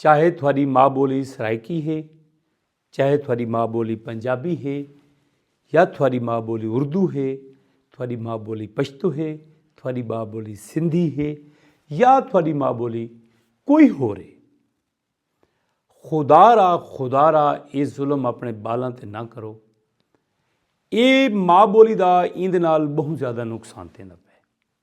چاہے تھوڑی ماں بولی سرائیکی ہے چاہے تھوڑی ماں بولی پنجابی ہے یا تھوڑی ماں بولی اردو ہے تھوڑی ماں بولی پشتو ہے تھوڑی ماں بولی سندھی ہے یا تھوڑی ماں بولی کوئی ہو رہے خدا را خدا را یہ ظلم اپنے بالاں تے نہ کرو اے ماں بولی دا ایند نال بہت زیادہ نقصان تیندا پہ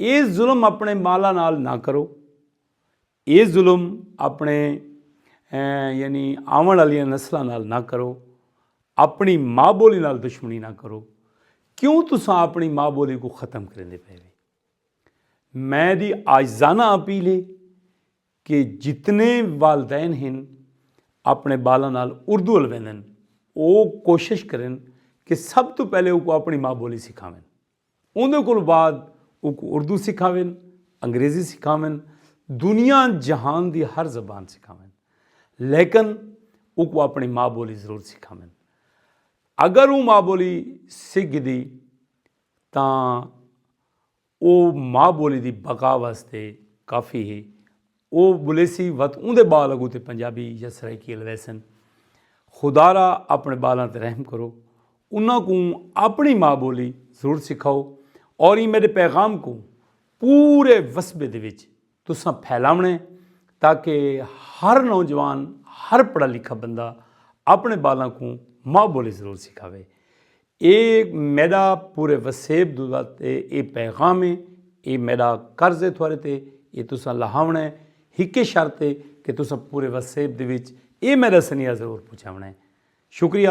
اے ظلم اپنے مالا نال نہ کرو اے ظلم اپنے یعنی آون والیاں نسلاں نال نہ کرو اپنی ماں بولی نال دشمنی نہ کرو کیوں تساں اپنی ماں بولی کو ختم کریں دے پہلے میں دی آجزانہ اپیل ہے کہ جتنے والدین ہیں اپنے بالا نال اردو الویندن او کوشش کریں کہ سب تو پہلے او کو اپنی ماں بولی سکھاویں اوندے کولوں بعد اوکوں اردو سکھاون، انگریزی سکھاون، دنیا جہان دی ہر زبان سکھاون لیکن اوکوں اپݨی ماء بولی ضرور سکھاون۔ اگر او ماء بولی سکھ گھدی تاں او ماء بولی دی بقا واسطے کافی ہے۔ او ٻولیسی وت اوندے ٻال اڳوں تے پنجابی یا سرائیکی الویسن۔ خدارا اپݨے ٻالاں تے رحم کرو۔ انہاں کوں اپݨی ماء ٻولی ضرور سکھاؤ۔ اور ایں میݙے پیغام کوں پورے وسبے دے وچ تساں پھیلاوݨے تاکہ ہر نوجوان ہر پڑھا لکھا بندہ اپݨے ٻالاں کوں ماء ٻولی ضرور سکھاوے۔ اے میڈا پورے وسیب دوداد تے اے پیغام اے۔ اے میڈا قرض اے تھوارے تے۔ اے تساں لہاونڑاں اے۔ ہکے شرط اے کہ تساں پورے وسیب دے وچ اے میڈا سنیہا ضرور پہنچاونڑاں اے۔ شکریہ۔